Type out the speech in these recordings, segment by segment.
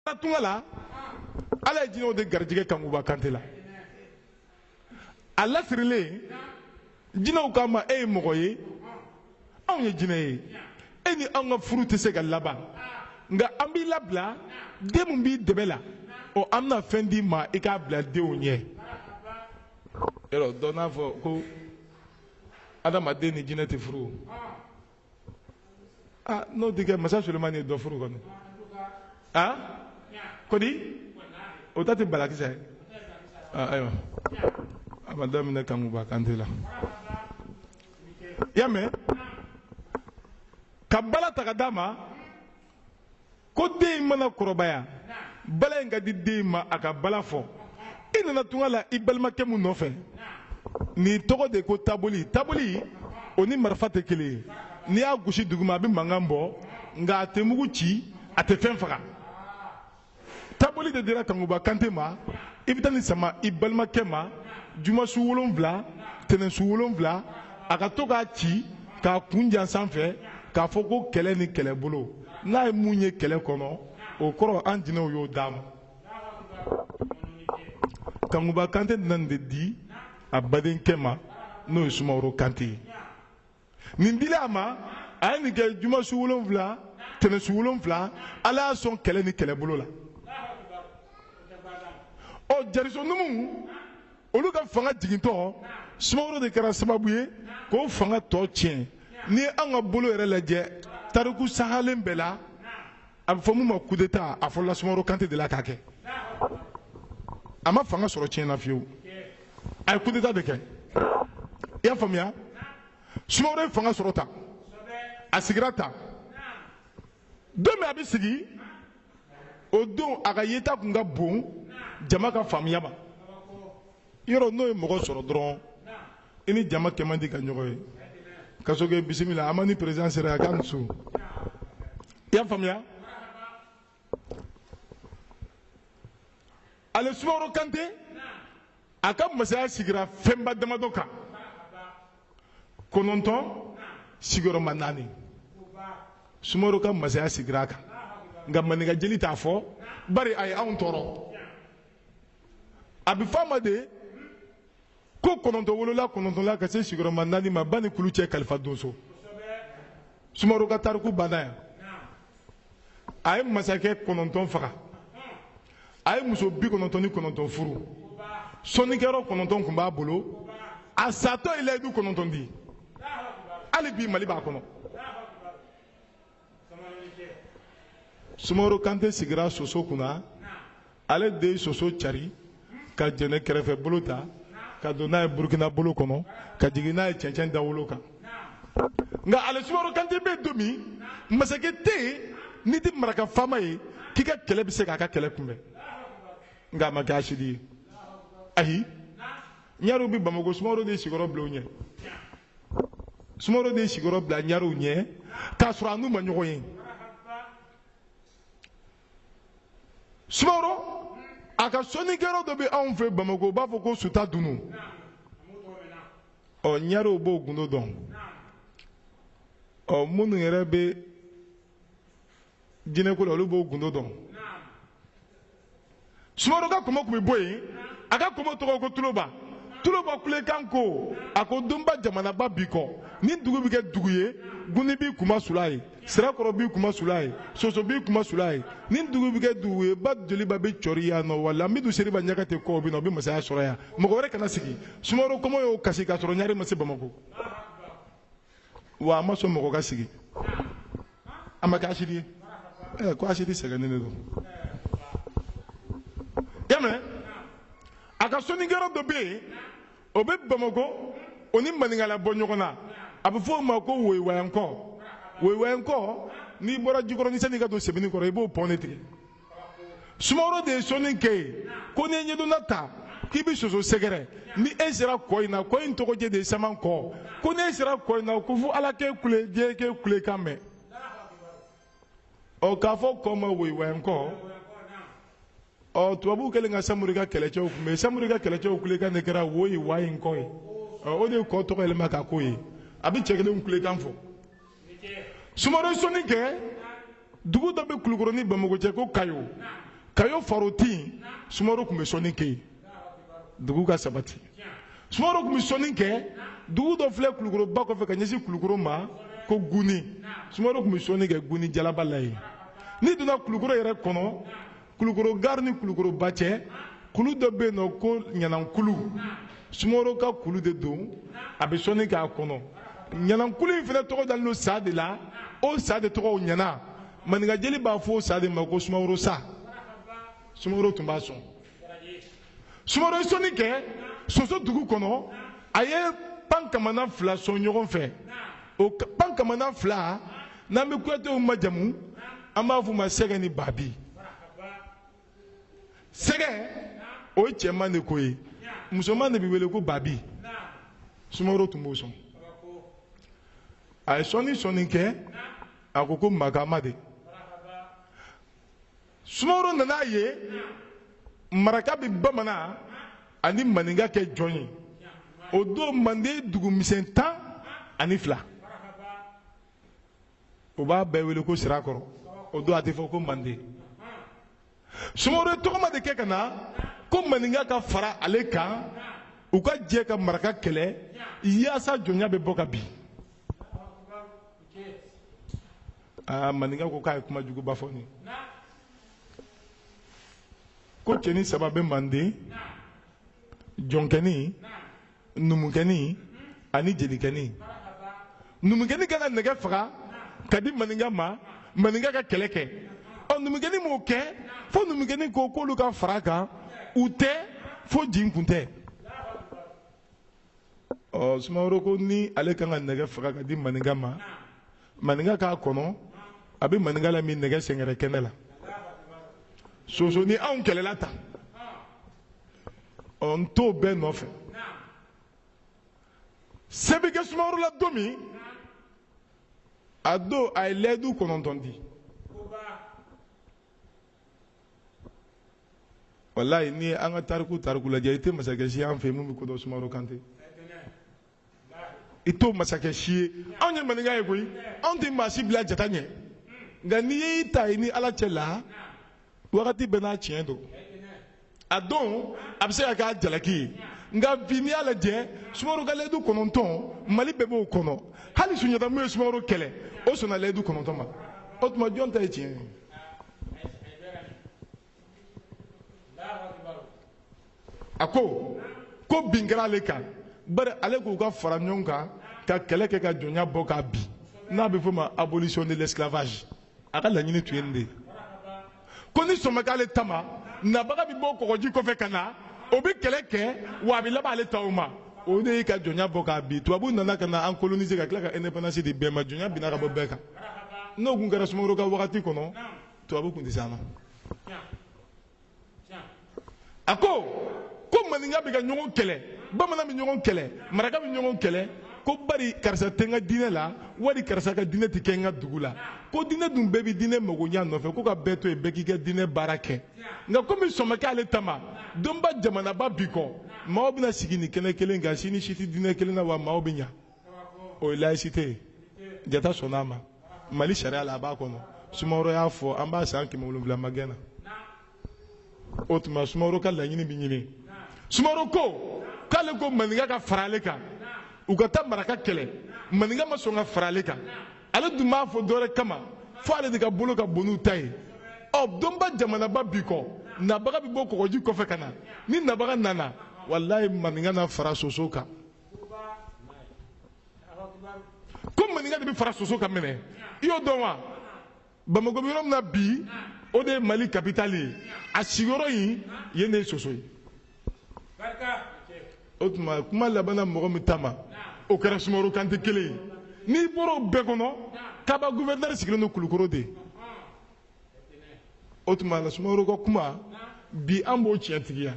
a na tunga la ala ye jinɛw de garijɛgɛ kankuba kante la a lasirilen jinɛw k'a ma e ye mɔgɔ ye anw ye jinɛ ye e ni anw ka furu tɛ se ka laban nka an b'i labila den min b'i dɛbɛ la ɔ an bɛna fɛn d'i ma i k'a bila denw ɲɛ yɔrɔ dɔ n'a fɔ ko adamaden ni jinɛ tɛ furu ah n'o tɛ kɛ masa sulemani ye dɔ furu kɔni ah kodi o ta tɛ balakisa ye ah ayiwa a ma daminɛ kankuba kante la i y'a mɛn ka bala ta ka d'a ma ko den in mana kɔrɔbaya bala in ka di den in ma a ka bala fɔ i nana tunga la i balimakɛ mun nɔfɛ nin tɔgɔ de ko taboli taboli o ni marifa tɛ kelen ye n'i y'a gosi duguma a bɛ mankan bɔ nka a tɛ mugu ci a tɛ fɛn faga taboli de dira kankuba kante ma i bɛ taa nin sama i balimakɛ ma jumasu wolonfila tɛnɛnsu wolonfila a ka to k'a ci k'a kun jan sanfɛ k'a fɔ ko kɛlɛ ni kɛlɛbolo n'a ye mun ye kɛlɛ kɔnɔ o kɔrɔ an jinɛw y'o d'a ma kankuba kante nana nin de di a badenkɛ ma n'o ye sumaworo kante ye nin dilen a ma a ye nin kɛ juma su wolonfila tɛnɛn su wolonfila ala y'a sɔn kɛlɛ ni kɛlɛbolo la ɔ jariso numu olu ka fanga jigintɔ sumaworo de kɛra sababu ye k'o fanga tɔ tiɲɛ n'i ye an ka bolo yɛrɛ lajɛ tariku sahalen bɛɛ la a bɛ fɔ min ma coup d'Etat a fɔlɔla Sumaworo Kante de la k'a kɛ, a ma fanga sɔrɔ tiɲɛ na fiyewu, a ye coup d'Etat de kɛ i y'a faamuya, Sumaworo ye fanga sɔrɔ tan, a sigira tan, don min a bɛ sigi o don a ka yeta tun ka bon jama ka faamuya ma yɔrɔ n'o ye mɔgɔ sɔrɔ dɔrɔn i ni jama kɛ man di ka ɲɔgɔn ye kasoke bisimila an ma ni perezidan sera a ka muso i y'a faamuya ale sumaworo kante a ka masaya sigira fɛnba damadɔ kan kɔnɔntɔn sigiyɔrɔma naani sumaworo ka masaya sigira a kan nka maninka jeli t'a fɔ bari a ye anw tɔɔrɔ a bɛ fɔ a ma de ko kɔnɔntɔn wolola kɔnɔntɔn la ka se sigiyɔrɔma naani ma ba ni kulu cɛ kalifa donso sumaworo ka tariku banna yan a ye masakɛ kɔnɔntɔn faga a ye muso bi kɔnɔntɔn ni kɔnɔntɔn furu sɔnnikɛyɔrɔ kɔnɔntɔn tun b'a bolo a satɔ ye layidu kɔnɔntɔn di hali bi mali b'a kɔnɔ sumaworo kante sigira soso kunna ale de ye soso cari ka jɛnɛ kɛrɛfɛ bolo ta ka don n'a ye burukina bolo kɔnɔ ka jigin n'a ye cɛncɛn dawolo kan nka ale sumaworo kante bɛ don min masakɛ tɛ yen n'i tɛ maraka faama ye k'i ka kɛlɛ bɛ se k'a ka kɛlɛ kunbɛn nka a ma kɛ asidi ye ayi ɲarew bɛ bamako sumaworo de sigiyɔrɔ bila u ɲɛ sumaworo de ye sigiyɔrɔ bila ɲarew ɲɛ k'a sɔrɔ a n'u ma ɲɔgɔn ye sumaworo a ka sɔnnikɛyɔrɔ dɔ bɛ anw fɛ bamako u b'a fɔ ko sutadunu ɔ ɲarew b'o gundo dɔn ɔ minnu yɛrɛ bɛ jinɛko la olu b'o gundo dɔn sumaworo ka kɔmɔ tun bɛ bɔ yen a ka kɔmɔ tɔgɔ ko tuloba tuloba kulekan ko a ko donba jamanaba bi kɔ ni dugu bɛ kɛ dugu ye guni b'i kunmasuul'a ye sirakɔrɔ b'i kunmasuul'a ye soso b'i kunmasuul'a ye ni dugu bɛ kɛ dugu ye ba joliba bɛ cɔri yan nɔ wa lambidu seriba ɲagate kɔ bɛ na o bɛ masaya sɔrɔ yan mɔgɔ wɛrɛ kana sigi sumaworo kɔmɔ y'o kasi k'a sɔrɔ ɲare ma se bamakɔ wa a ma sɔn mɔgɔ ka sigi a ma kɛ asidi ye ɛ ko asidi sɛgɛnnen de don i y'a mɛn a ka sɔnnikɛyɔrɔ dɔ bɛ yen o bɛ bamakɔ o ni maninkala bɔ ɲɔgɔn na a bɛ fɔ o ma ko woyiwayankɔ woyiwayankɔ n'i bɔra jikɔrɔni sanni i ka don sebenikɔrɔ i b'o pɔn de tigɛ sumaworo de ye sɔnni kɛ yen ko n'i ye ɲɛdonna ta k'i bɛ soso sɛgɛrɛ ni e sera kɔ in na kɔ in tɔgɔjɛ de ye samankɔ ko n'e sera kɔ in na ko fo ala k'e kule diɲɛ k'e kulekan mɛn ɔ k'a fɔ kɔ ma woyiwayankɔ ɔ tubabuw kɛlen ka samori ka kɛlɛcɛw kunbɛn samori ka kɛlɛcɛw kulekan de kɛra woyiwayankɔ ye ɔ o de ye kɔ tɔgɔ yɛlɛma ka k'o ye a bɛ cɛ kelen kulekan fɔ sumaworo ye sɔnni kɛ dugu dɔ bɛ kulukɔrɔ ni bamakɔ cɛ ko kayo kayo farotin sumaworo tun bɛ sɔnni kɛ yen dugu ka sabati sumaworo tun bɛ sɔnni kɛ dugu dɔ filɛ kulukɔrɔ ba kɔfɛ ka ɲɛsin kulukɔrɔ ma ko guni sumaworo tun bɛ sɔnni kɛ guni jalaba la yen n'i donna kulukɔrɔ yɛrɛ kɔnɔ kulukɔrɔ gari ni kulukɔrɔba cɛ kulu dɔ bɛ yen nɔ ko ɲanankulu sumaworo ka kulu de don a bɛ sɔnni k'a kɔnɔ ɲanankulu in fana tɔgɔ dalen don sa de la o sa de tɔgɔ ɲana maninkajeli b'a fɔ o sa de ma ko sumaworo sa sumaworo tun b'a sɔn sumaworo ye sɔnni kɛ soso dugu kɔnɔ a ye pan kamana fila sɔn ɲɔgɔn fɛ o pan kamana fila n'an bɛ kuyatew majamu an b'a f'u ma sɛgɛ ni baabi sɛgɛ o ye cɛman de ko ye musoman de bɛ wele ko baabi sumaworo tun b'o sɔn a ye sɔnni sɔnni kɛ a ko ko magama de sumaworo nan'a ye maraka bɛ bamanan ani maninka kɛ jɔn ye o don manden dugumisɛn tan ani fila o b'a bɛɛ wele ko sirakɔrɔ o don a tɛ fɔ ko manden sumaworo ye tɔgɔma de kɛ ka na ko maninka ka fara ale kan u ka jɛ ka maraka kɛlɛ yaasa jɔnya bɛ bɔ ka bin aa maninka ko k'a ye kuma juguba fɔ nin ko cɛnin saba bɛ manden jɔnkɛnin numukɛnin ani jelikɛnin numukɛnin ka kan ka nɛgɛ faga k'a di maninka ma maninka ka kɛlɛ kɛ ɔ numukɛnin m'o kɛ fo numukɛnin ko k'olu ka fara a kan u tɛ fo jin kun tɛ ɔ sumaworo ko ni ale kan ka nɛgɛ faga k'a di maninka ma maninka k'a kɔnɔ a bɛ maninka lamin nɛgɛ sɛngɛrɛ kɛnɛ la soso ni anw kɛlɛla tan ɔ n t'o bɛɛ nɔfɛ se bɛ kɛ sumaworo la don min a don a ye layidu kɔnɔntɔn di walayi ni an ka tariku tariku lajɛ i tɛ masakɛ si ye an fɛ min bɛ ko dɔn sumaworo kante i t'o masakɛ si ye anw ye maninka ye koyi anw tɛ maa si bila jata ɲɛ nka n'i y'i ta i ni ala cɛ la wagati bɛɛ n'a tiɲɛ don a don a bɛ se ka k'a jalaki ye nka bi n'i y'a lajɛ sumaworo ka layidu kɔnɔntɔn mali bɛɛ b'o kɔnɔ hali sunjata min ye sumaworo kɛlɛ o sɔnna layidu kɔnɔntɔn ma o tuma jɔn ta ye tiɲɛ ye a ko ko bin kɛra ale kan bari ale k'u ka fara ɲɔgɔn kan ka kɛlɛ kɛ ka jɔnya bɔ k'a bin n'a bɛ f'o ma abolition de l'esclavage a ka laɲini tun ye nin de ye ko ni sɔn ma k'ale ta ma nabaga bɛ bɔ kɔgɔji kɔfɛ ka na o bɛ kɛlɛ kɛ wa a bɛ laban ale ta o ma o de ye ka jɔnya bɔ k'a bin tubabuw nana ka na an coloniser ka tila ka indépendance di bɛɛ ma jɔnya binna ka bɔ bɛɛ kan n'o tun kɛra sumaworo ka wagati kɔnɔ tubabu tun tɛ se an na a ko ko maninka bɛ ka ɲɔgɔn kɛlɛ bamanan bɛ ɲɔgɔn kɛlɛ maraka bɛ ɲɔgɔn kɛlɛ ko bari karisa tɛ n ka diinɛ la wali karisa ka diinɛ tɛ kɛ n ka dugu la ko diinɛ dun bɛɛ bɛ diinɛ magoɲa nɔfɛ ko ka bɛɛ to yen bɛɛ k'i ka diinɛ baara kɛ nka komi sɔn ma kɛ ale ta ma donba jamanaba bi kɔ maaw bɛna sigi nin kɛnɛ kelen kan si ni si tɛ diinɛ kelen na wa maaw bɛ ɲa o ye laïcité ye jata sɔnna a ma mali sariya la a b'a kɔnɔ sumaworo y'a fɔ an b'a san kɛmɛ wolonwula magɛn na o tuma sumaworo ka laɲini bɛ ɲini sumaworo ko k'ale ko maninka ka fara ale kan u ka taa maraka kɛlɛ maninka ma sɔn ka fara ale kan ale dun m'a fɔ dɔwɛrɛ kama fo ale de ka bolo ka bon n'u ta ye ɔ donba jamanaba bi kɔ nabaga bɛ bɔ kɔgɔji kɔfɛ ka na ni nabaga nana walayi maninka na fara soso kan ko maninka de bɛ fara soso kan minɛ i y'o dɔn wa bamakɔ bɛ yɔrɔ min na bi o de ye mali kapitali ye a sigiyɔrɔ in yen de ye soso ye o tuma kuma labanna mɔgɔ min ta ma o kɛra sumaworo kante kelen ye n'i bɔra o bɛɛ kɔnɔ kaba guvɛrinɛri sigilen don kulukoro de o tuma la sumaworo ka kuma bi an b'o tiɲɛtigiya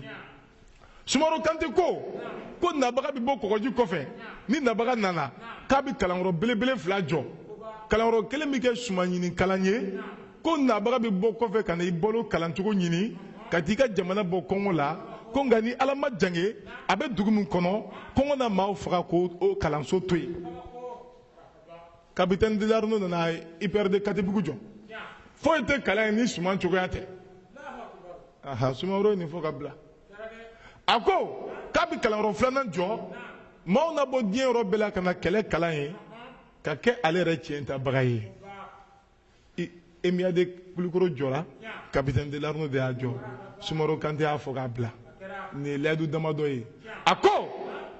sumaworo kante ko ko nabaga bɛ bɔ kɔgɔji kɔfɛ ni nabaga nana k'a bɛ kalanyɔrɔ belebele fila jɔ kalanyɔrɔ kelen bɛ kɛ suman ɲini kalan ye ko nabaga bɛ bɔ kɔfɛ ka na i balo kalancogo ɲini ka t'i ka jamana bɔ kɔngɔ la ko nka ni ala ma jange a bɛ dugu min kɔnɔ kɔngɔ na maaw faga k'o kalanso to yen kapitɛni delanneau nana ipr de katibugu jɔ foyi tɛ kalan yen ni suman cogoya tɛ aha sumaworo ye nin fɔ ka bila a ko k'a bɛ kalanyɔrɔ filanan jɔ maaw na bɔ diɲɛ yɔrɔ bɛɛ la ka na kɛlɛ kalan yen ka kɛ ale yɛrɛ tiɲɛ tabaga ye emia de kulukoro jɔra kapitɛn delanneau de y'a jɔ sumaworo kante y'a fɔ ka bila nin ye layidu damadɔ ye a ko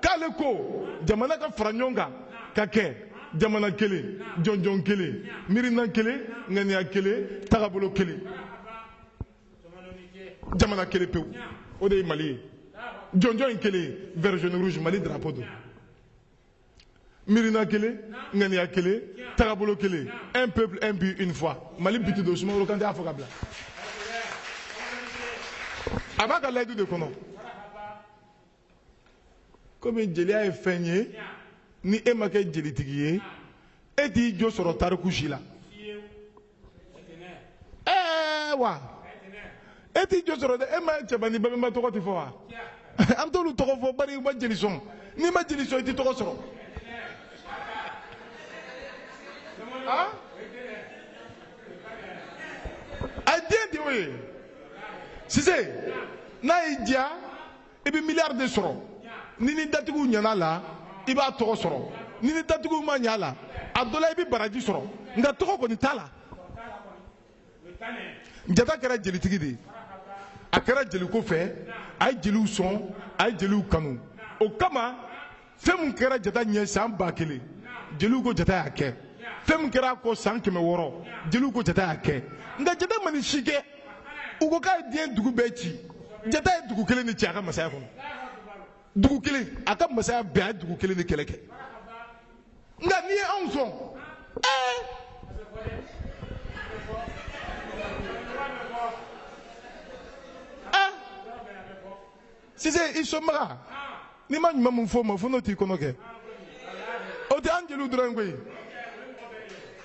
k'ale ko jamana ka fara ɲɔgɔn kan ka kɛ jamana kelen jɔnjɔn kelen miirina kelen ŋaniya kelen tagabolo kelen jamana kelen pewu o de ye mali ye jɔnjɔn in kelen vert jaune rouge mali drapeau don miirina kelen ŋaniya kelen tagabolo kelen un peuple un but une foi mali but don sumaworo kante y'a fɔ ka bila a b'a ka layidu de kɔnɔ komi jeliya ye fɛn ye ni e ma kɛ jelitigi ye e t'i jo sɔrɔ tariku si la ɛɛ wa e t'i jɔ sɔrɔ dɛ e ma cɛba ni babɛnba tɔgɔ tɛ fɔ wa an t'olu tɔgɔ fɔ bari u ma jeli sɔn n'i ma jeli sɔn i tɛ tɔgɔ sɔrɔ ah? a ye den de y'o ye sise n'a y'i diya i bɛ miliyari de sɔrɔ n'i ni datigiw ɲana la i b'a tɔgɔ sɔrɔ n'i ni datigiw ma ɲa la a dɔ la i bɛ baraji sɔrɔ nka tɔgɔ kɔni t'a la jata kɛra jelitigi de ye a kɛra jeliko fɛ a ye jeliw sɔn a ye jeliw kanu o kama fɛn min kɛra jata ɲɛ san ba kelen jeliw ko jata y'a kɛ fɛn min kɛra a kɔ san kɛmɛ wɔɔrɔ jeliw ko jata y'a kɛ nka jata ma nin si kɛ u ko k'a ye diɲɛ dugu bɛɛ ci jata ye dugu kelen de ci a ka masaya kɔnɔ dugu kelen a ka masaya bɛɛ a ye dugu kelen de kɛlɛ kɛ nka n'i ye anw sɔn ɛɛ sise i sɔnbaga n'i ma ɲuman mun fɔ o ma fo n'o t'i kɔnɔ kɛ o tɛ an jeliw dɔrɔn ye koyi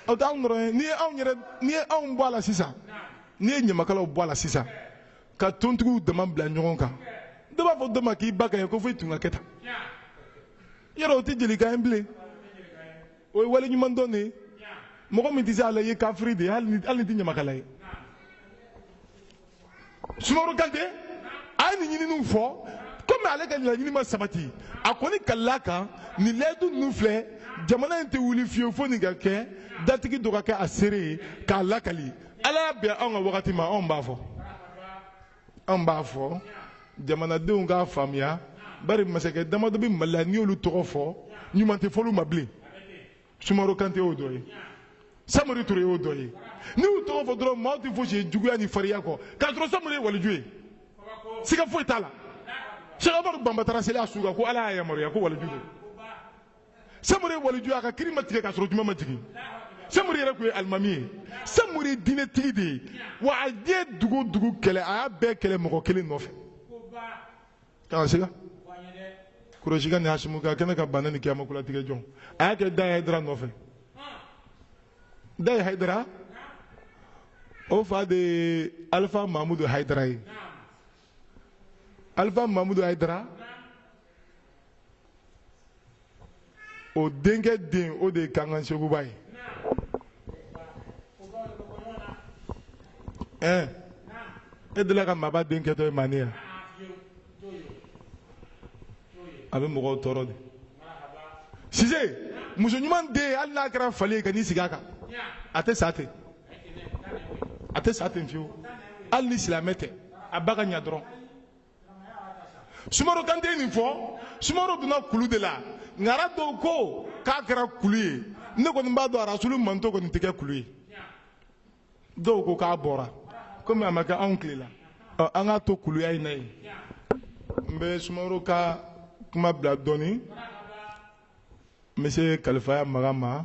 o tɛ anw dɔrɔn ye n'i ye anw yɛrɛ n'i ye anw bɔ a la sisan n'i ye ɲamakalaw bɔ a la sisan ka tontigiw dama bila ɲɔgɔn kan dɔ b'a fɔ dɔ ma k'i ba ka ye ko fo i tun ka kɛ tan yɔrɔ o tɛ jelikan ye bilen o ye waleɲumandɔn de ye mɔgɔ min tɛ se a la i ye kafiri de ye hali ni hali n'i tɛ ɲamakala ye sumaworo kante a ye nin ɲininiw fɔ komi ale ka laɲini ma sabati a kɔni kalikan ni layidu ninnu filɛ jamana in tɛ wuli fiyewu fo nin ka kɛ datigi dɔ ka kɛ a seere ye k'a lakali ala y'a bɛn anw ka wagati ma anw b'a fɔ anw b'a fɔ jamanadenw k'a faamuya bari masakɛ damadɔ bɛ mali la n'i y'olu tɔgɔ fɔ ɲuman tɛ fɔ olu ma bilen sumaworo kante y'o dɔ ye samori ture y'o dɔ ye n'i y'u tɔgɔ fɔ dɔrɔn maaw tɛ fosi ye juguya ni fariya kɔ k'a sɔrɔ samori ye waliju ye siga foyi t'a la sɛk umaru banba taara seli a su kan ko ala y'a yamaruya ko waliju don samori ye waliju a ka kiri ma tigɛ k'a sɔrɔ juma ma jigin samori yɛrɛ tun ye alimami ye samori ye diinɛtigi de ye wa a ye dugu dugu kɛlɛ a y'a bɛɛ kɛlɛ mɔgɔ kelen nɔfɛ K'a siga Kurɛsikɛ ni Hasimuka a kɛlen ka bana ni kiyama kolatigɛ don a y'a kɛ Daye Hayidara nɔfɛ Daye Hayidara o fa de ye Alifa Mamudu Hayidara ye Alifa Mamudu Hayidara o denkɛ den o de ye kankan sekuba ye ɛɛ e delila ka maaba den kɛtɔ ye manden yan a bɛ mɔgɔw tɔɔrɔ de sise muso ɲuman den hali n'a kɛra fali ye kan'i sigi a kan a tɛ sa ten a tɛ sa ten fiyewu hali ni silamɛ tɛ a ba ka ɲa dɔrɔn sumaworo kante ye nin fɔ sumaworo donna kulu de la ŋara dɔw ko k'a kɛra kulu ye ne kɔni b'a dɔn arasulu mantɔn kɔni tɛ kɛ kulu ye dɔw ko k'a bɔra komi a ma kɛ anw tile la ɔ an k'a to kuluya in na yen n bɛ sumaworo ka kuma bila dɔɔni n bɛ se kalifaya maga ma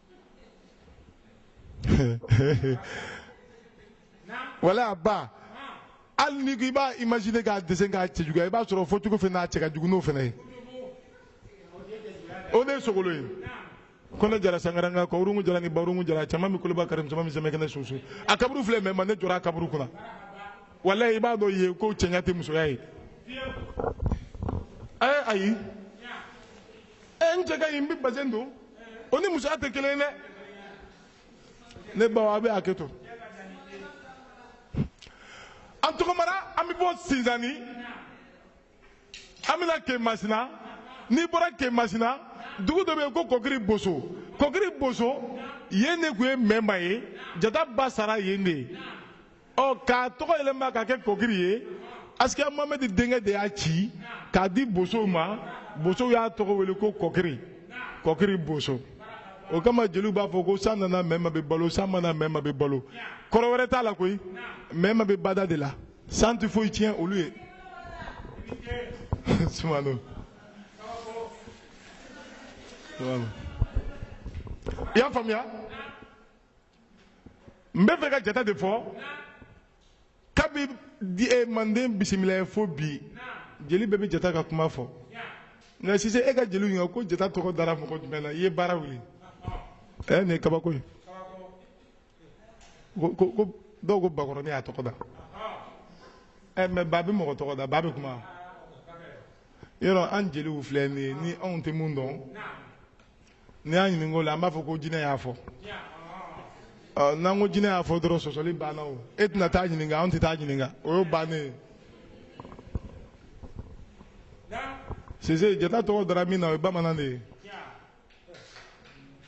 wala a ba hali ni ko i b'a imaginer k'a dese k'a cɛjuguya i b'a sɔrɔ fɔ cogo fana n'a cɛ ka jugu n'o fana ye o de ye sogolon ye kɔnɛ jara sangaranga kɔwurungu jara ni bawurungu jara cɛman mi koloba kari cɛman mi sɛmɛ kɛnɛ susu a kaburu filɛ mɛma ne jɔra a kaburu kunna walayi i b'a dɔn yen ko cɛɲa tɛ musoya ye ɛɛ ayi ɛ n cɛ ka ɲi n bɛ basɛn don o ni musoya tɛ kelen ye dɛ ne baw aw bɛ hakɛ to an tɔgɔmara an bɛ bɔ sinzanni an bɛna kemasina n'i bɔra kemasina dugu dɔ bɛ yen ko kɔkiri boso kɔkiri boso yen de tun ye mɛma ye jata ba sara yen de ye ɔ k'a tɔgɔ yɛlɛma ka kɛ kɔkiri ye asikiya mohamɛdi denkɛ de y'a ci k'a di bosow ma bosow y'a tɔgɔ wele ko kɔkiri kɔkiri boso o kama jeliw b'a fɔ ko san nana mɛma bɛ balo san ma na mɛma bɛ balo kɔrɔ wɛrɛ t'a la koyi mɛma bɛ bada de la san tɛ foyi tiɲɛ olu ye sumano i y'a faamuya n bɛ fɛ ka jata de fɔ kabi eh, manden bisimilayi fo bi jeli bɛɛ bɛ jata ka kuma fɔ nka sise e ka jeliw ɲininka ko jata tɔgɔ dara mɔgɔ jumɛn na i ye baara wuli ɛ eh, nin ye kabako ye ko dɔw ko bakɔrɔni y'a tɔgɔ da ɛ eh, mɛ ba bɛ mɔgɔ tɔgɔ da ba bɛ kuma yɔrɔ an jeliw filɛ nin ye ni anw tɛ min dɔn n'i y'an ɲininka o la an b'a fɔ ko jinɛ y'a fɔ ɔ n'an ko jinɛ y'a fɔ dɔrɔn sɔsɔli banna o e tɛna taa ɲininka anw tɛ taa ɲininka o y'o bannen ye sise jata tɔgɔ dara min na o ye bamanan de ye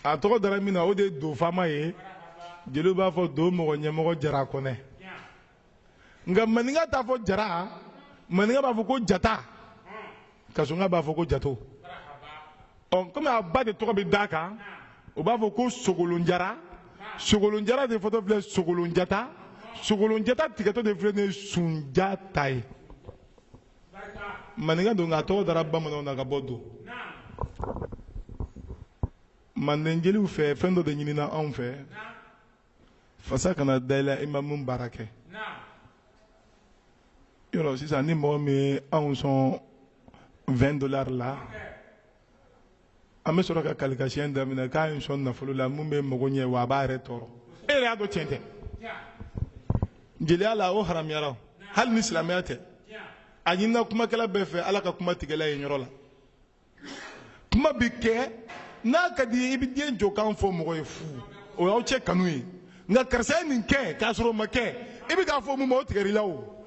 a tɔgɔ dara min na o de ye do faama ye jeliw b'a fɔ do mɔgɔ ɲɛmɔgɔ jara kɔnɛ nka maninka t'a fɔ jara maninka b'a fɔ ko jata kasɔnka b'a fɔ ko jato ɔ kɔmi a ba de tɔgɔ bɛ d'a kan u b'a fɔ ko sogolonjara sogolonjara de fɔtɔ filɛ sogolonjata sogolonjata tigɛtɔ de filɛ ni sunjata ye maninka don nka a tɔgɔ dara bamananw na ka bɔ don manden jeliw fɛ fɛn dɔ de ɲinina anw fɛ fasa kana da i la i ma mun baara kɛ yɔrɔ sisan ni mɔgɔ min ye anw sɔn 20 dollars la an bɛ sɔrɔ ka kalikasiyɛn daminɛ k'a y'i sɔn nafolo la mun b'i mago ɲɛ wa a b'a yɛrɛ tɔɔrɔ e yɛrɛ y'a dɔn tiɲɛ tɛ jeliya la o haramuyara o hali ni silamɛya tɛ a ɲinina kumakɛla bɛɛ fɛ ala ka kuma tigɛla ye yɔrɔ la kuma bɛ kɛ n'a ka d'i ye i bɛ den jɔkan fɔ mɔgɔ ye fu o y'aw cɛ kanu ye nka karisa ye nin kɛ k'a sɔrɔ o ma kɛ i bɛ k'a fɔ mun ma o tigɛr'i la o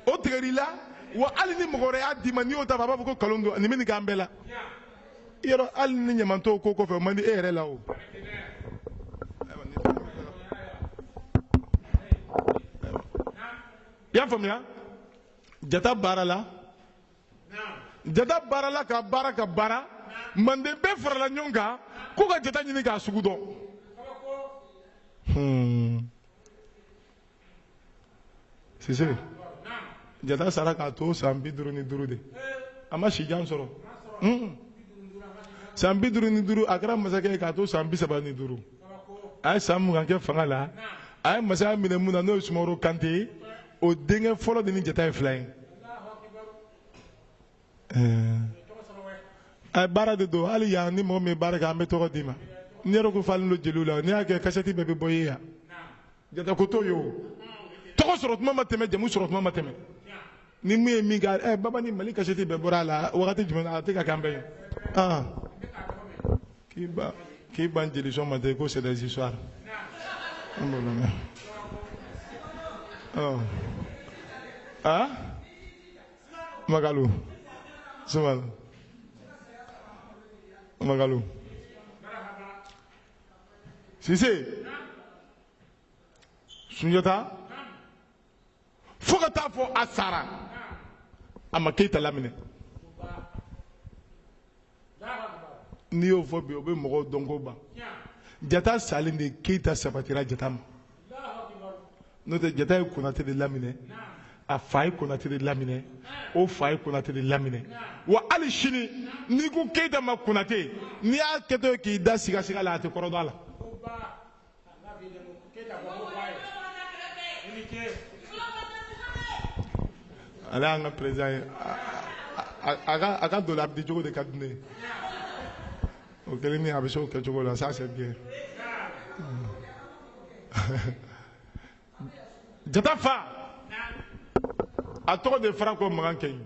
o tigɛr'i la wa hali ni mɔgɔ wɛrɛ y'a d'i ma n'i y'o ta a b'a fɔ ko kalon don nin bɛ nin k'an bɛɛ la yɔrɔ hali ni ɲamantɔw ko kɔfɛ o man di e yɛrɛ la o. i y'a faamuya jata baara la jata baarala ka baara ka baara manden bɛɛ farala ɲɔgɔn kan ko ka jata ɲini k'a sugu dɔn hmm. sise jata sara k'a to san bi duuru ni duuru de a ma si jan sɔrɔ hmm. san bi duuru ni duuru a kɛra masakɛ ye k'a to san bi saba ni duuru a ye san mugan kɛ fanga la a ye masaya minɛ mun na n'o ye sumaworo kante ye o denkɛ fɔlɔ de ni jata ye fila ye a baara de don hali yan ni mɔgɔ min baara kɛ an bɛ tɔgɔ d'i ma n yɛrɛ ko falen don jeliw la n'i y'a kɛ kasɛti bɛɛ bɛ bɔ ye yan jata ko t'o ye o tɔgɔ sɔrɔ tuma ma tɛmɛ jamu sɔrɔ tuma ma tɛmɛ ni min ye min kɛ ɛ babani mali kasɛti bɛɛ bɔra a la wagati jumɛn a tɛ ka k'an bɛɛ ye k'i ban k'i ban jeli sɔn ma tɛ ko c'est des histoires an b'o lamɛn ɔ a makalu sumalu makalu sise sunjata fo ka taa fɔ a sara a ma keyita laminɛ n'i y'o fɔ bi o bɛ mɔgɔw dɔnko ban jata salen de keyita sabatira jata ma n'o tɛ jata ye konate de laminɛ a fa ye konate de laminɛ o fa ye konate de laminɛ wa hali sini n'i ko keyita ma konate n'i y'a kɛtɔ ye k'i da sigasiga la a tɛ kɔrɔ dɔn a la Ala an ka président a ka don a bɛ di cogo de ka di ne o kɛlen min a bɛ se o kɛ cogo la sa se gɛn jata fa a tɔgɔ de farako magan kɛɲi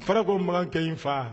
farako magan kɛɲi fa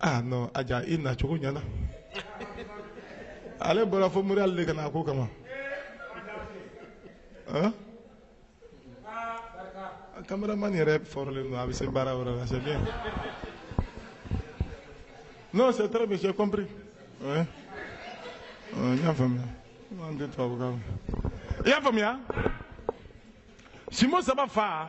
a ja i nacogo ɲɛna ale bɔra fo mori ale de ka na a ko kama cameraman yɛrɛ fɔlɔlen don a bɛ se baara la c'est bien non c'est très bien j'ai compris ouais. n y'a faamuya an tɛ tubabukan i y'a faamuya simbo saba fa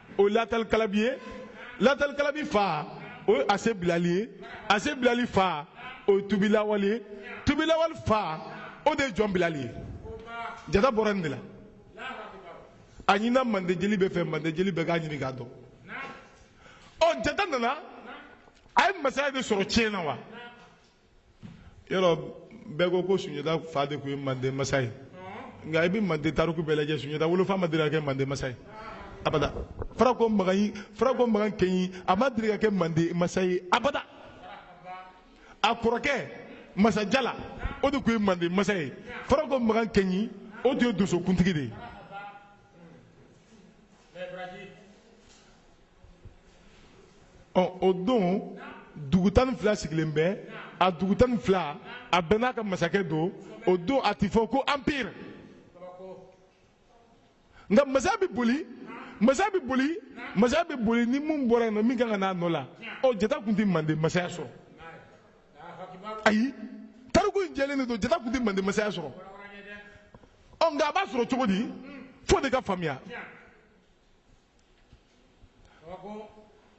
o ye latali kalabi ye latali kalabi fa o ye ase bilali ye ase bilali fa o ye tubi lawali ye tubi lawali fa o de ye jɔn bilali ye jata bɔra nin de la a ɲinina mande jeli bɛɛ fɛ mande jeli bɛɛ k'a ɲini k'a dɔn ɔ jata nana a ye masaya de sɔrɔ tiɲɛ na wa yɔrɔ bɛɛ ko ko sunjata fa de tun ye manden masa ye nka i bɛ manden tariku bɛɛ lajɛ sunjata wolofa ma deli ka kɛ manden masa ye abada farako magan yi farako magan kɛɲi a ma deli ka kɛ manden masa ye abada a kɔrɔkɛ masajala o de tun ye manden masa ye farako magan kɛɲi o tun ye donsokuntigi de ye o don dugu tan ni fila sigilen bɛ a dugu tan ni fila a bɛɛ n'a ka masakɛ don o don a tɛ fɔ ko empire nka masaya bɛ boli masaya bɛ boli masaya bɛ boli ni min bɔra yen min ka kan a nɔ la ɔ jata tun tɛ mande masaya sɔrɔ ayi tariku in jɛlen de don jata tun tɛ mande masaya sɔrɔ ɔ nka a b'a sɔrɔ cogo di f'o de ka faamuya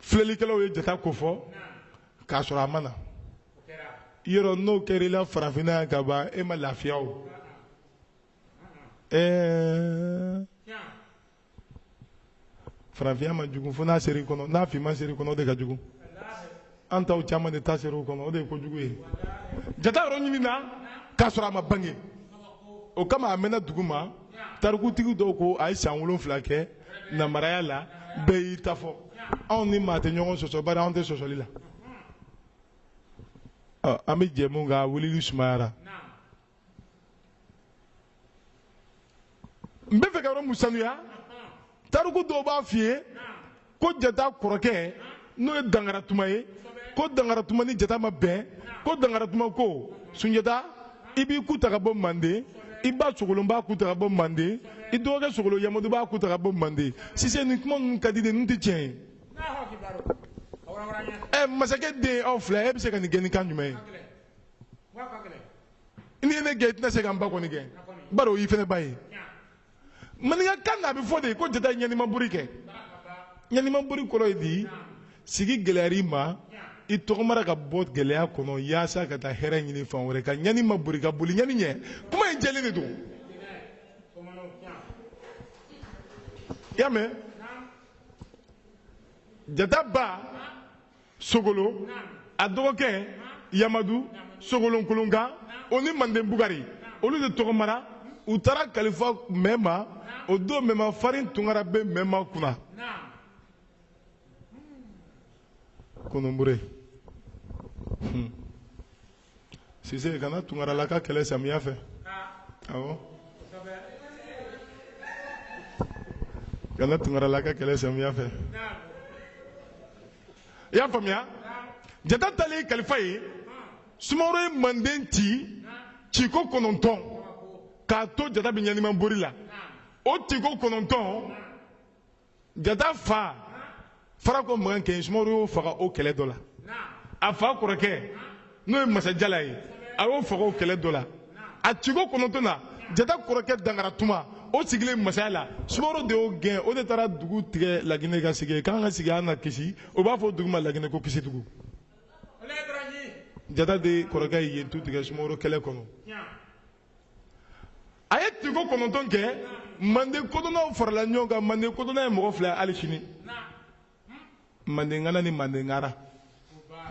filɛlikɛlaw ye jata ko fɔ k'a sɔrɔ a ma na yɔrɔ n'o kɛra i la farafinna yan ka ban e ma lafiya o ɛɛ farafinya ma jugu fo n'a sera i kɔnɔ n'a finma sera i kɔnɔ o de ka jugu an taw caman de ta ser'u kɔnɔ o de ye kojugu ye jata yɔrɔ ɲinina k'a sɔrɔ a ma bange o kama a mɛnna duguma tarikutigi dɔw ko a ye san wolonfila kɛ nambaraya la bɛɛ y'i ta fɔ anw ni maa tɛ ɲɔgɔn sɔsɔ bari anw tɛ sɔsɔli la an bɛ jɛ min kan wulili sumayara n b'a fɛ ka yɔrɔ min sanuya tariku dɔw b'a f'i ye ko jata kɔrɔkɛ n'o ye dankaratuma ye ko dankaratuma ni jata ma bɛn ko dankaratuma ko sunjata i b'i ku ta ka bɔ manden i ba sogolon b'a ku ta ka bɔ manden i dɔgɔkɛ sogolon yamadu b'a ku ta ka bɔ manden sise nin kuma ninnu ka di de ninnu tɛ tiɲɛ ye ɛ masakɛ den aw fila e bɛ se ka nin gɛn ni kan jumɛn ye n'i ye ne gɛn i tɛna se ka n ba kɔni gɛn bari o y'i fana ba ye maninkakan na a bɛ fɔ de ko jata ɲanimaburi kɛ ɲanimaburi kɔrɔ ye di sigi gɛlɛyara i ma i tɔgɔmara ka bɔ gɛlɛya kɔnɔ yaasa ka taa hɛrɛ ɲini fan wɛrɛ ka ɲani ma boli ka boli ɲani ɲɛ kuma in jɛlen de don i y'a mɛn jata ba sogolon a dɔgɔkɛ yamadu sogolonkolonkan o ni manden bugari olu de tɔgɔmara u taara kalifa mɛma o don mɛma farin tunkara bɛ mɛma kunna kononbure hmm. Sise kana tunkarala ka kɛlɛ samiya fɛ kana tunkarala ka kɛlɛ samiya fɛ i y'a faamuya jata taalen i kalifa yen sumaworo ye manden ci ciko kɔnɔntɔn k'a to jata bɛ ɲanimabori la o tiko kɔnɔntɔn jata fa farako makan kɛɲi sumaworo y'o faga o kɛlɛ dɔ la a fa kɔrɔkɛ n'o ye masajala ye a y'o faga o kɛlɛ dɔ la a ciko kɔnɔntɔn na jata kɔrɔkɛ dangara tuma o sigilen masaya la sumaworo de y'o gɛn o de taara dugu tigɛ laginɛ ka sigi k'an ka sigi an na kisi o b'a fɔ dugu ma laginɛ ko kisidugu jata de kɔrɔkɛ ye yen tu tigɛ sumaworo kɛlɛ kɔnɔ a ye tiko kɔnɔntɔn kɛ manden kodɔnnaw farala ɲɔgɔn kan manden kodɔnna ye mɔgɔ fila ye hali sini mandenkana ni mandenkara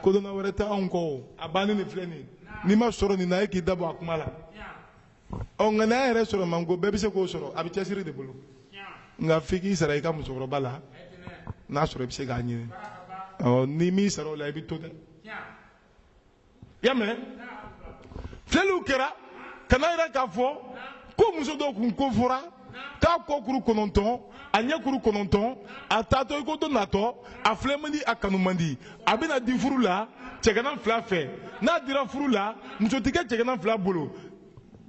kodɔnna wɛrɛ tɛ anw kɔ o a bannen de filɛ nin ye n'i m'a sɔrɔ nin na e k'i da bɔ a kuma la ɔ nka n'a yɛrɛ sɔrɔ man go bɛɛ bɛ se k'o sɔrɔ a bɛ cɛsiri de bolo nka f'i k'i sara i ka musokɔrɔba la n'a sɔrɔ i bɛ se k'a ɲini ɔ n'i m'i sara o la i bɛ to dɛ y'a mɛn filɛliw kɛra ka n'a yira k'a fɔ ko muso dɔ kun ko fɔra k'a kɔ kuru kɔnɔntɔn a ɲɛ kuru kɔnɔntɔn a taatɔ i ko to natɔ a filɛ man di a kanu man di a bɛna di furu la cɛgana fila fɛ n'a dira furu la muso tɛ kɛ cɛgana fila bolo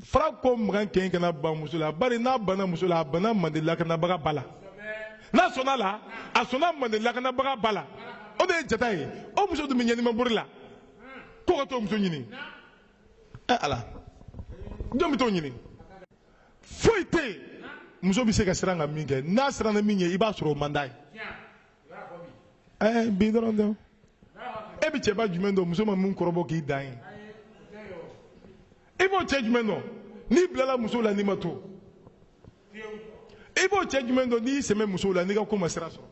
farako makan kɛɲi kana ban muso la bari n'a banna muso la a banna mande lakanabaga ba la n'a sɔnna la a sɔnna mande lakanabaga ba la o de ye jata ye o muso tun bɛ ɲɛnimabori la ko ka t'o muso ɲini ɛ eh, ala jɔn bɛ t'o ɲini foyi tɛ yen muso bɛ se ka siran ka min kɛ n'a siranna min ɲɛ i b'a sɔrɔ o man d'a ye ɛɛ bi dɔrɔn tɛ e bɛ cɛba jumɛn dɔn muso ma min kɔrɔbɔ k'i dan ye i b'o cɛ jumɛn dɔn n'i bilala muso la n'i ma to i b'o cɛ jumɛn dɔn n'i sɛmɛ muso la n'i ka ko ma sira sɔrɔ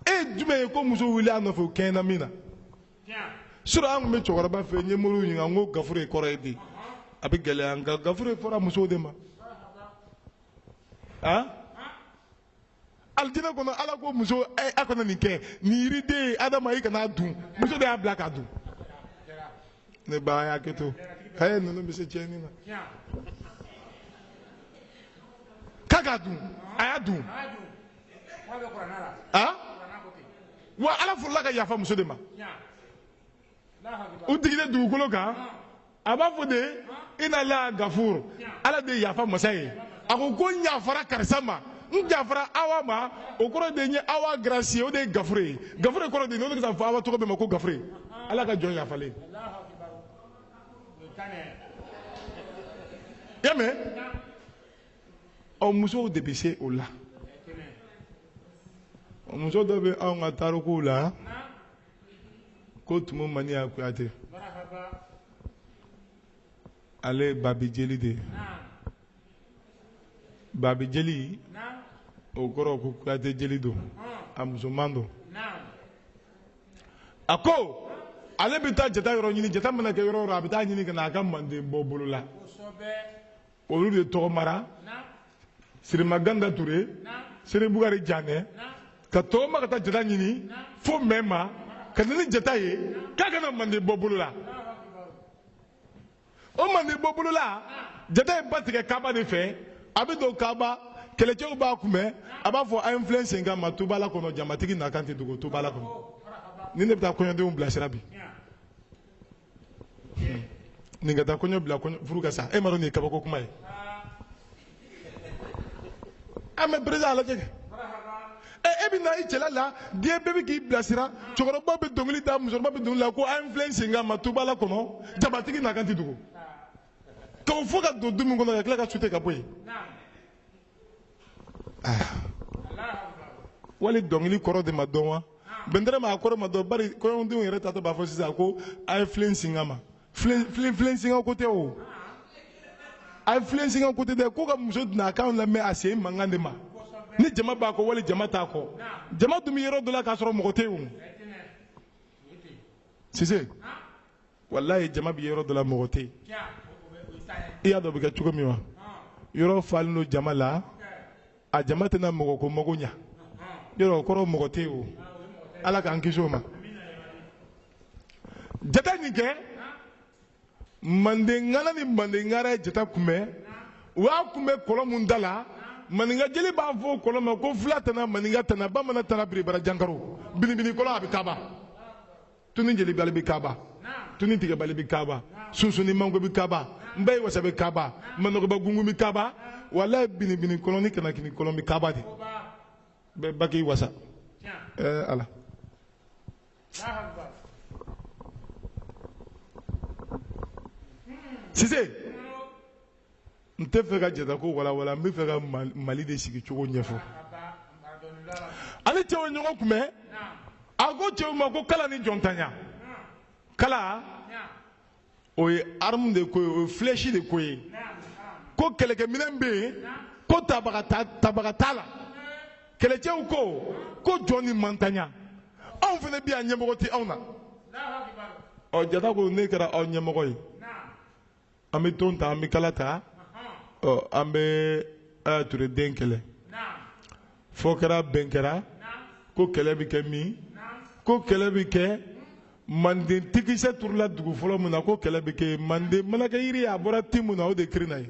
e ye jumɛn ye ko muso wuli a nɔfɛ o kɛɲɛ na min na sura an tun bɛ cɛkɔrɔba fɛ n ye moriw ɲininka n ko gafure ye kɔrɔ ye di a bɛ gɛlɛya nka gafure fɔra musow de ma alijinɛ kɔnɔ ala ko muso eh, a kana nin kɛ nin yiriden adama i kan'a dun muso de y'a bila k'a dun ne ba y'a kɛ to a ye ninnu bɛ se tiɲɛni na k'a k'a dun a y'a dun awa ala fɔlɔla ka yafa muso de ma u jigilen dugukolo kan a b'a fɔ de ina la gafur ala de ye yafa masa ye a ko ko n yafara karisa ma n yafara awa ma o kɔrɔ de ye awa garasiye o de ye gafure ye gafure kɔrɔ de ye n'o de ka fɔ awa tɔgɔ bɛɛ ma ko gafure ala ka jɔn yafalen y'a mɛn ɔ musow de bɛ se o la muso dɔ bɛ anw ka tarikuw la ko tumu maniya kuyate ale ye babi jeli de ye babi jeli o kɔrɔ ko kuyate jeli don a musoman don a ko ale bɛ taa jata yɔrɔ ɲini jata mana kɛ yɔrɔ o yɔrɔ a bɛ taa ɲini ka na a ka manden bɔ bolo la olu de tɔgɔmara siriman kanda ture sere bugari janɛ ka tɔgɔma ka taa jata ɲini fo mɛma ka na ni jata ye k'a ka na manden bɔ bolo la o manden bɔ bolo la jata ye ba tigɛ kaba de fɛ a bɛ don kaba kɛlɛcɛw b'a kunbɛn a b'a fɔ a ye n filɛ sen kan ma tubala kɔnɔ jamatigi na kan tɛ dogo tubala kɔnɔ nin de bɛ taa kɔɲɔdenw bilasira bi nin ka taa kɔɲɔ bila furu ka sa e m'a dɔn nin ye kabako kuma ye an bɛ perezan na a lajɛ ɛ e bɛ na i cɛla la diɲɛ bɛɛ bɛ k'i bilasira cɛkɔrɔba bɛ dɔnkili da musokɔrɔba bɛ dɔnkili da ko an filɛ sen kan ma tubala kɔnɔ jamatigi na kan tɛ dogo k'o fɔ ka don du min kɔnɔ ka tila ka sute ka bɔ yen wali dɔnkili kɔrɔ de ma dɔn wa bɛntɛrɛ ma a kɔrɔ ma dɔn bari kɔɲɔdenw yɛrɛ taatɔ b'a fɔ sisan ko a ye filen singa ma filen filen filen singa ko tɛ o a ye filen singa ko tɛ dɛ ko ka muso donna a kan lamɛn a sen mankan de ma ni jama b'a kɔ wali jama t'a kɔ jama dun bɛ yɔrɔ dɔ la k'a sɔrɔ mɔgɔ tɛ yen o sise walayi jama bɛ yɔrɔ dɔ la mɔgɔ tɛ i y'a dɔn o bɛ kɛ cogo min wa yɔrɔ falen don jama la a jama tɛna mɔgɔ ko mago ɲa yɔrɔ o kɔrɔ mɔgɔ tɛ o ala k'an kisi o ma jata nin kɛ manden na ni mandenkaw ye jata kunbɛn u y'a kunbɛn kɔlɔn min da la maninka jeli b'a fɔ o kɔlɔn ma ko fula tana maninka tana bamanan tana biribara jankaro binibini kɔlɔn a bɛ kaba tuni jeli bali bi kaba tuni tigɛ bali bi kaba sunsunni mango bi kaba nbayi wasa bi kaba manɔgɔba gungun bi kaba walayi binibini kɔlɔn ni kanakini kɔlɔn bi kaba de bɛɛ baki wasa ɛɛ ala sise n tɛ fɛ ka jata ko walawala n bɛ fɛ ka mali de sigi cogo ɲɛfɔ a ni cɛw ye ɲɔgɔn kunbɛn a ko cɛw ma ko kala ni jɔntanya kala o ye armu de ko ye o ye filɛsi de ko ye ko kɛlɛkɛminɛn bɛ yen ko tabaga t'a la kɛlɛcɛw ko ko jɔn ni mantanya anw fana bɛ yan ɲɛmɔgɔ tɛ anw na ɔ jata ko ne kɛra aw ɲɛmɔgɔ ye an bɛ ton ta an bɛ kala ta ɔ an bɛ kaya ture den kɛlɛ fɔ kɛra bɛn kɛra ko kɛlɛ bɛ kɛ min ko kɛlɛ bɛ kɛ manden tikisɛ turula dugu fɔlɔ min na ko kɛlɛ bɛ kɛ yen manden manakɛ yiri a bɔra te min na o de kirina ye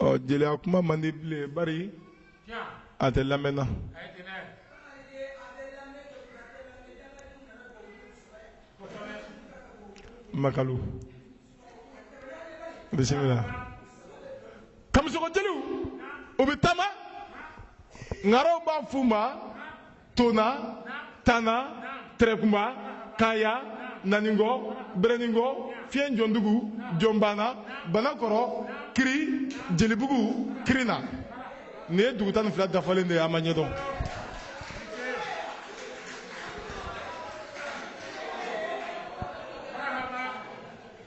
ɔ jeliya kuma man di bilen bari a tɛ lamɛn na makalu bisimila kamisɔgɔ jeliw u bɛ taama ŋaaraw b'a f'u ma tona tana tɛrɛkunba kaya naningo bereningo fiɲɛ jɔndugu jɔnbana banakɔrɔ kiri jelibugu kirina nin ye dugu tan ni fila dafalen de ye an m'a ɲɛdɔn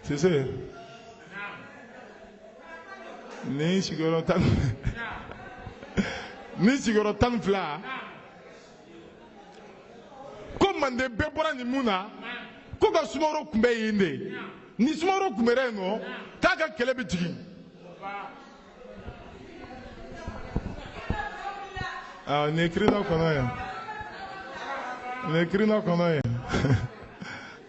sise ni sigiyɔrɔ tan ni sigiyɔrɔ tan ni fila ko manden bɛɛ bɔra nin mun na ko ka sumaworo kunbɛn yen de ni sumaworo kunbɛra yen nɔ k'a ka kɛlɛ bɛ jigin aa nin ye kirina kɔnɔ ye nin ye kirina kɔnɔ ye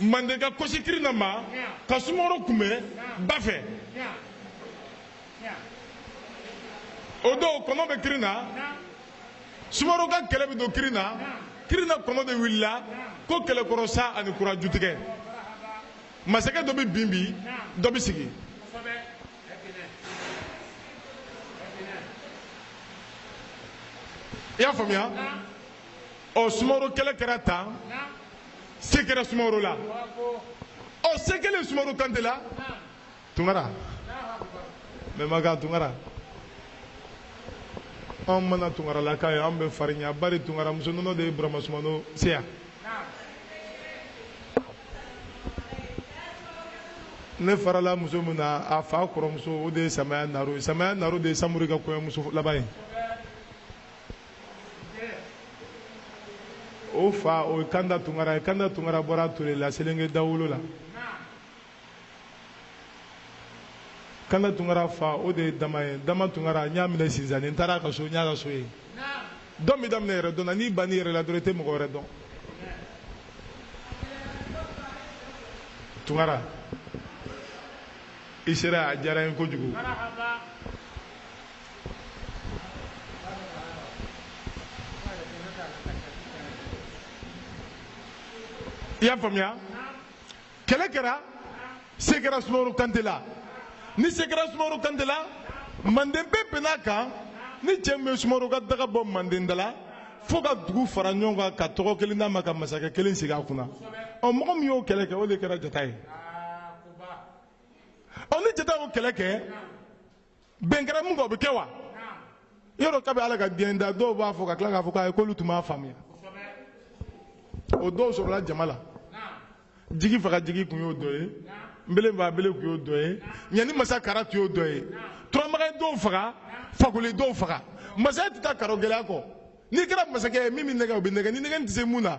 mandenka kɔ sin kirina ma ka sumaworo kunbɛn ba fɛ o don kɔnɔ bɛ kirina sumaworo ka kɛlɛ bɛ don kirina kirina kɔnɔ de wulila ko kɛlɛ kɔrɔ sa ani kura jutigɛ masakɛ dɔ bɛ bin bi dɔ bɛ sigi i y'a faamuya ɔ sumaworo kɛlɛ kɛra tan se kɛra sumaworo la ɔ se kɛlen sumaworo kante la tunkara mɛmakan tunkara an mana tunkaralaka ye an bɛ farinya bari tunkara muso nɔnɔ de ye burama sumano seya ne farala muso min na a fa kɔrɔmuso o de ye samaya naro ye samaya naro de ye samori ka kɔɲɔmuso laban ye o fa o ye kanda tunkara ye kanda tunkara bɔra ture la selenge dawolo la kanda tunkara fa o de ye dama ye dama tunkara n y'a minɛ sinsanni n taara a ka so n y'a ka so ye dɔn bɛ daminɛ yɛrɛdɔn na n'i bann'i yɛrɛ la dɔrɔn i tɛ mɔgɔ wɛrɛ dɔn tunkara i sera a diyara n ye kojugu i y'a faamuya kɛlɛ kɛra se kɛra sumaworo kante la ni se kɛra sumaworo kante la manden bɛɛ bɛnn'a kan ni cɛ min ye sumaworo ka daga bɔ manden da la fo ka dugu fara ɲɔgɔn kan ka tɔgɔ kelen d'a ma ka masakɛ kelen sigi a kunna ɔ mɔgɔ min y'o kɛlɛ kɛ o de kɛra jata ye ɔ ni jata y'o kɛlɛ kɛ bɛn kɛra min kan o bɛ kɛ wa yɔrɔ kabi ala ka diɲɛ da dɔw b'a fɔ ka tila k'a fɔ k'ayi k'olu tun m'a faamuya o dɔw sɔrɔla jama la jigi faga jigi tun y'o dɔ ye nbele faga bele tun y'o dɔ ye ɲani masa kara tun y'o dɔ ye turamagan dɔw faga fakoli dɔw faga masaya tɛ taa karo gɛlɛya kɔ n'i kɛra masakɛ ye min bɛ nɛgɛn o bɛ nɛgɛn ni nɛgɛnni tɛ se min na